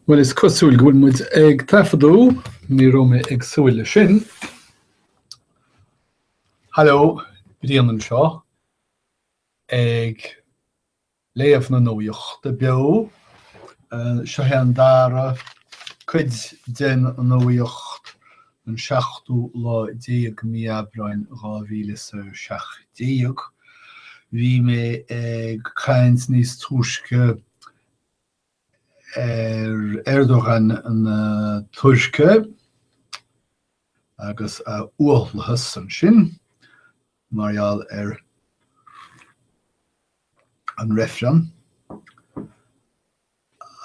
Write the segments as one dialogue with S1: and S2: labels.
S1: Bhuel, is cosúil go bhfuil muid ag taifeadadh, ní raibh mé ag súil leis sin. Haló, Brian anseo ag Léamh na Nuachta Beo, Seo é an dara cuid den nuacht an seachtú lá déag Mí Aibreáin 2017. Bhí mé ag caint níos túisce ar Erdogan na Tuirce agus a uathlathas ansin mar gheall ar an reifreann,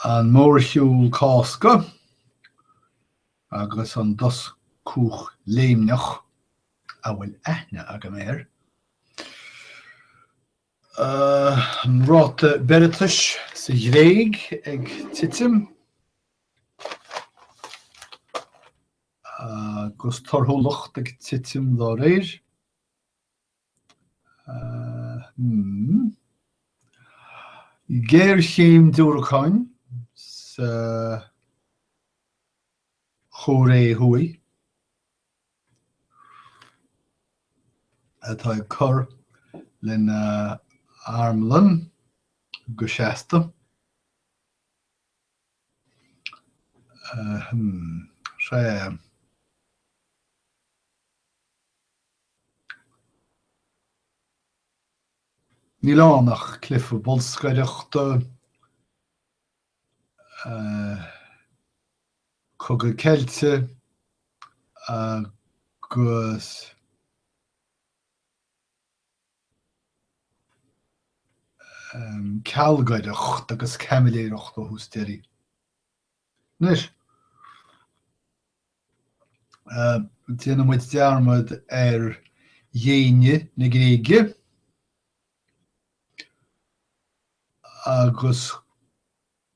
S1: an mórshiúl Cásca agus an doscúch léimneach a bhfuil aithne agam air. An ráta beireatais sa Ghréig ag titim agus torthúlacht ag titim dá réir. Géarchéim diúracáin sa Chóiré Thuaidh. atá ag cur lena armlann go seasta. Ahem. Sea. Níl ann ach cluiche bolscaireachta Cogadh Ceilte agus Cealgaireacht agus Caimiléireacht ó thús deiridh. Anois, déanfaidh muid dearmad ar dhéine na Gréige. agus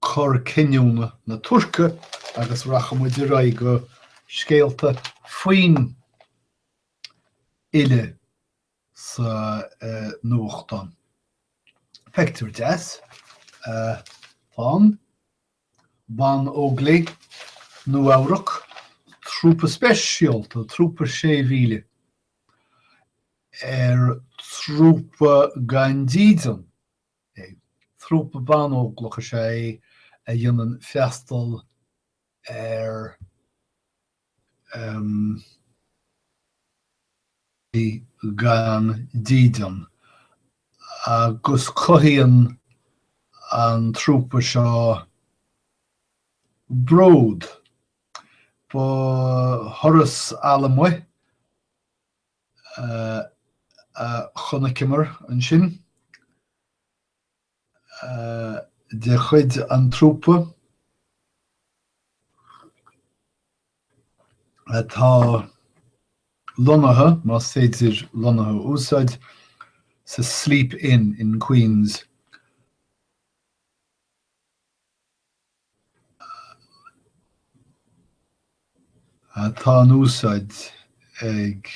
S1: cor cinniúna na Tuirce agus rachaidh muid ar aghaidh go scéalta faoin fhile sa nuachtán. Pictiúr deas, tá an. Banóglaigh Nua-Eabhrac, trúpa speisialta, trúpa 6,000, ar trúpa gan dídean é. Trúpa banóglach is ea é a dhéanann freastal ar. bhí gan dídean agus cothaíonn an trúpa seo bród. Ba thuras allamuigh a chonaiceamar ansin. de chuid an trúpa atá lonnaithe, más féidir lonnaithe a úsáid, sa Sleep Inn in Queens. atá in úsáid ag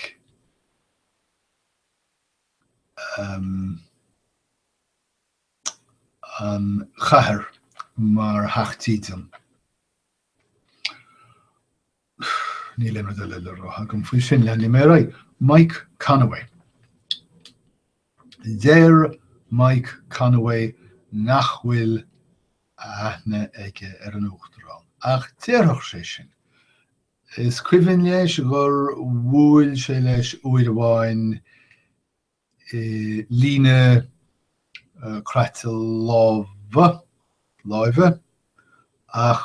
S1: an chathair mar theach dídine. Níl aon rud eile le rá agam faoi sin leanfaidh mé ar aghaidh. Mike Conaway. Deir Mike Conaway nach bhfuil a aithne aige ar an Uachtarán, ach déarfadh sé sin. Is cuimhin leis gur bhuail sé leis uair amháin i líne uh, croite lámha, láimhe, ach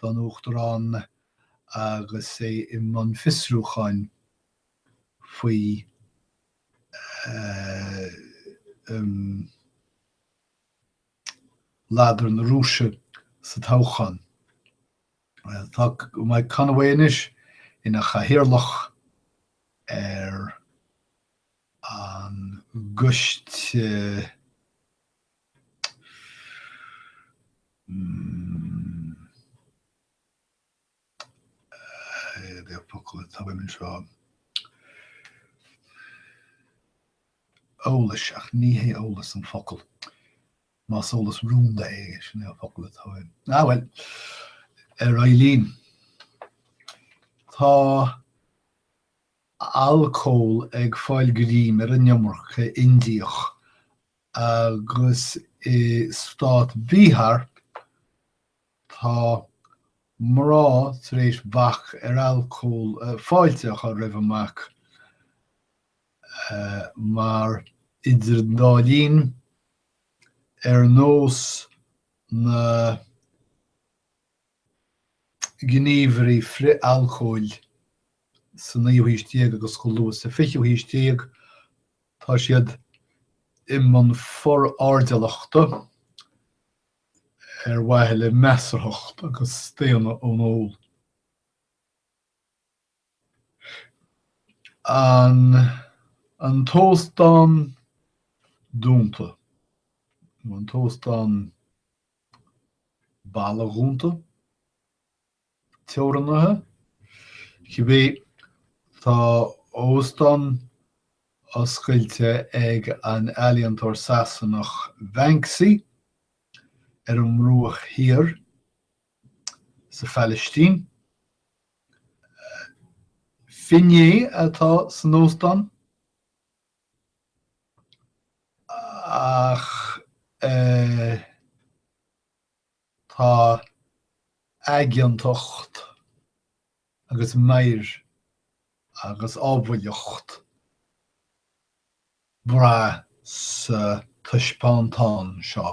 S1: don Uachtarán agus é i mbun fiosrúcháin faoi ladar na Rúise sa toghchán. Tá Mike Conaway anois ina chathaoirleach ar an gCoiste. Eolas, ach ní hé eolas an focal. Más eolas rúnda é, sin é an focal atá air. Ah bhuel, ar aghaidh linn. Tá alcól ag fáil greim ar an iomarca Indiach Agus i stát Bihar, tá mná tar éis bac ar alcól fáilte a chur roimh an mbac mar, idir an dá linn, ar nós na. gníomhairí frith-alcóil sa naoú haois déag agus go luath sa fichiú haois déag, tá siad i mbun forairdeallachta ar mhaithe le measarthacht agus staonadh ón ól. An an t-óstán dúnta, nó an t-óstán. balla dúnta, teorannaithe, cibé. Tá óstán oscailte ag an ealaíontóir Sasanach Banksy ar an mBruach Thiar sa Phalaistín. Finné atá san óstán. Ach tá aigeantacht agus meidhir agus ábhailleacht le brath sa taispeántán seo.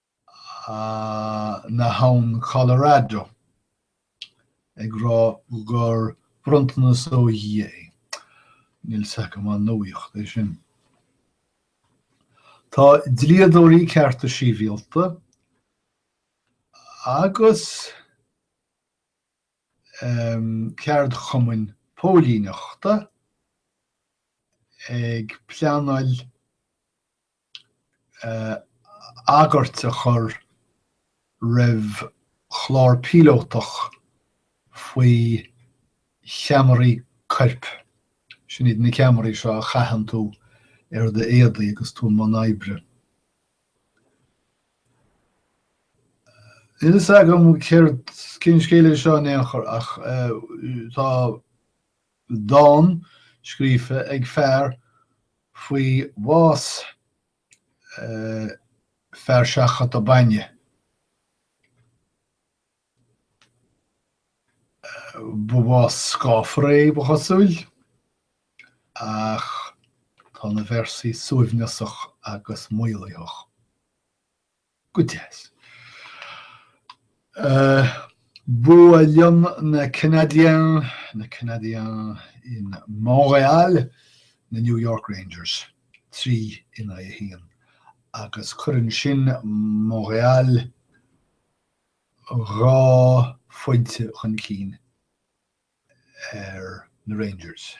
S1: na habhann Colorado, ag rá gur bronntanas ó Dhia é. Níl a fhios agam an nuaíocht é sin. Tá dlíodóirí cearta síbhialta agus ceardchumainn póilíneachta ag pleanáil agairt a chur roimh chlár píolótach faoi cheamaraí coirp, sin iad na ceamaraí seo a chaitheann tú ar d'éadaí agus tú i mbun oibre. Níl a fhios agam céard, cén scéal é seo in aon chor ach tá. Dán scríofa ag fear faoi bhás fear seachadta bainne. Bás scáfar é, ba chosúil, ach tá na véarsaí suaimhneasach agus maolaitheach. Go deas. Buaileann na Canadiens na Canadiens in Montréal na New York Rangers, trí in aghaidh a haon, agus cuireann sin Montréal dhá phointe chun cinn ar na Rangers.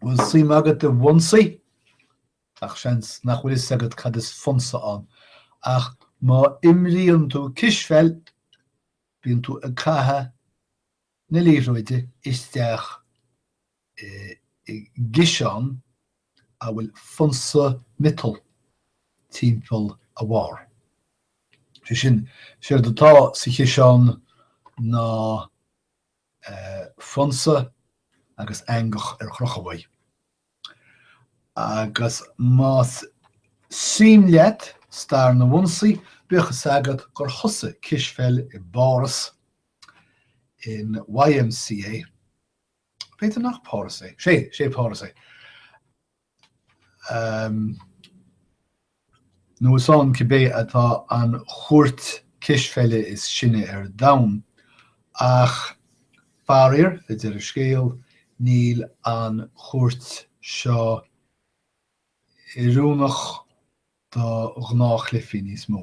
S1: Bhfuil suim agat i bhfonsaí? Gach seans nach bhfuil fhios agat cad is fonsa ann, ach má imríonn tú cispheil, bíonn tú ag caitheamh na liathróide isteach i gciseán a bhfuil fonsa miotail timpeall a bharr. Sé sin, séard atá sa chiseán ná fonnsa agus eangach ar chrochadh. Agus más suim leat stair na bhfonsaí, bíodh fhios agat gur thosaigh cispheil i bPáras, in YMCA, b'fhéidir nach Páras é, 'sé, 'sé Páras é, nó is ann cibé atá an chúirt cispheile is sine ar domhan, ach faraor, deir an scéal, níl an chúirt seo oiriúnach do ghnáthchluichí níos mó.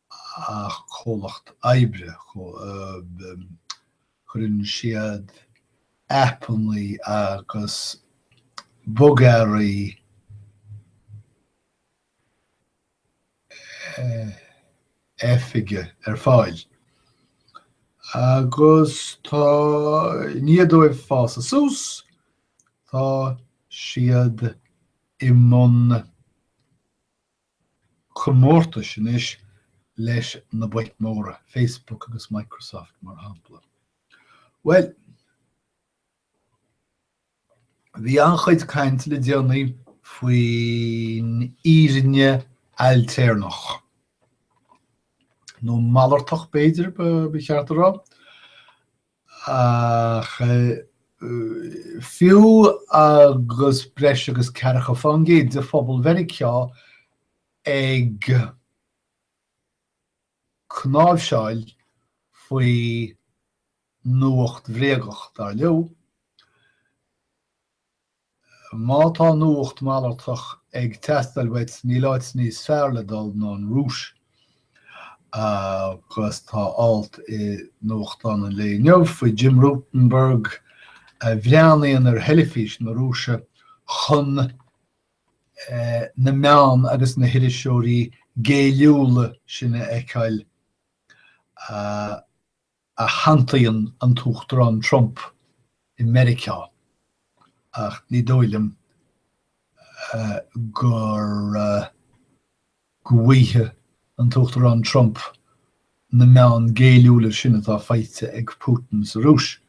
S1: Is comhlacht oibre. Cuireann siad aipeanna agus bogearraí oifige ar fáil agus tá i ndiaidh dóibh fásadh suas, tá siad i mbun comórtais anois leis na boic mhóra, Facebook agus Microsoft, mar shampla. Bhuel, bhí an-chuid cainte le déanaí faoin fhírinne ailtéarnach, nó malartach b'fhéidir ba cheart a rá, Ach fiú agus breis agus ceathracha fán gcéad de phobal Mheiriceá ag cnáimhseáil faoi nuacht bhréagach, dar leo, Má tá nuacht malartach ag teastáil uait, níl áit níos fearr le dul ná an Rúis. Agus tá alt i nuachtán an lae inniu faoi Jim Rutenberg a bhreathnaíonn ar theilifís na Rúise chun na meáin agus na hiriseoirí géilliúla sin a fheiceáil. a shantaíonn an tUachtarán Trump i Meiriceá ach ní dóigh liom go bhfaighidh an tUachtarán Trump na meáin géilliúla sin atá faighte ag Putin sa Rúis.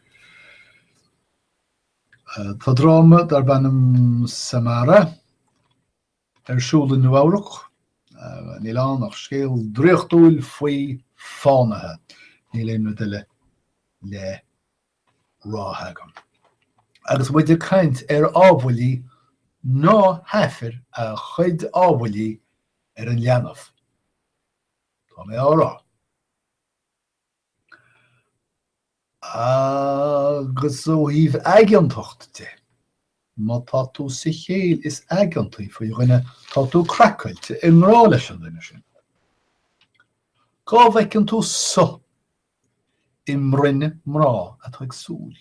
S1: Tá dráma darb ainm Samara ar siúl i Nua-Eabhrac. Níl ann ach scéal draíochtúil faoi fánaithe. Níl aon rud eile le rá agam. Agus muid ag caint ar ábhaillí, ná haifir a chuid ábhaillí ar an leanbh, tá mé á rá. Agus ó thaobh aigeantacht de, má tá tú sa chéill is aigeantaí faoi dhuine, tá tú craiceáilte, i ngrá leis an duine sin. Cá bhfeiceann tú suth i mbroinn mná atá ag súil?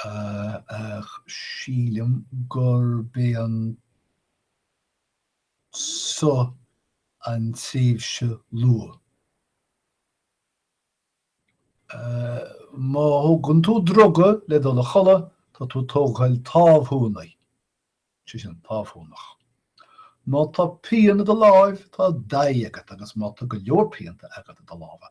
S1: Ach sílim gurb é an. suth an tréimhse luath. Má thógann tú druga le dul a chodladh, tá tú ag tógáil támhshuanaí, sé sin, támhshuanach. Má tá pian i do láimh, tá daigh agat agus má tá go leor pianta agat i do lámha,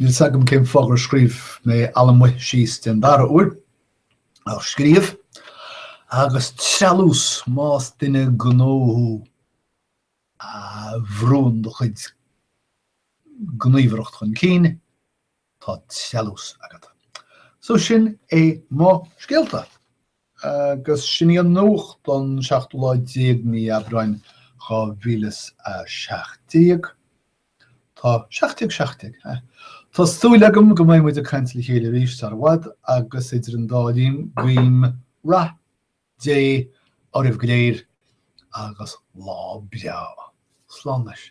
S1: Níl 's agam cén fáth gur scríobh mé allamuigh síos den dara huair, ach scríobh, agus treallús, más duine gnó thú a bhrúnn do chuid gníomhaireacht chun cinn, tá treallús agat. So sin é mo scéalta. Agus sin í an nuacht don seachtú lá déag mí Aibreáin dhá mhíle 'is a seacht déag. Tá seacht déag seacht déag, hea. Tá súil agam go mbeidh muid ag caint le chéile arís sar i bhfad agus idir an dá linn guím rath Dé oraibh go léir agus lá breá. Slán anois.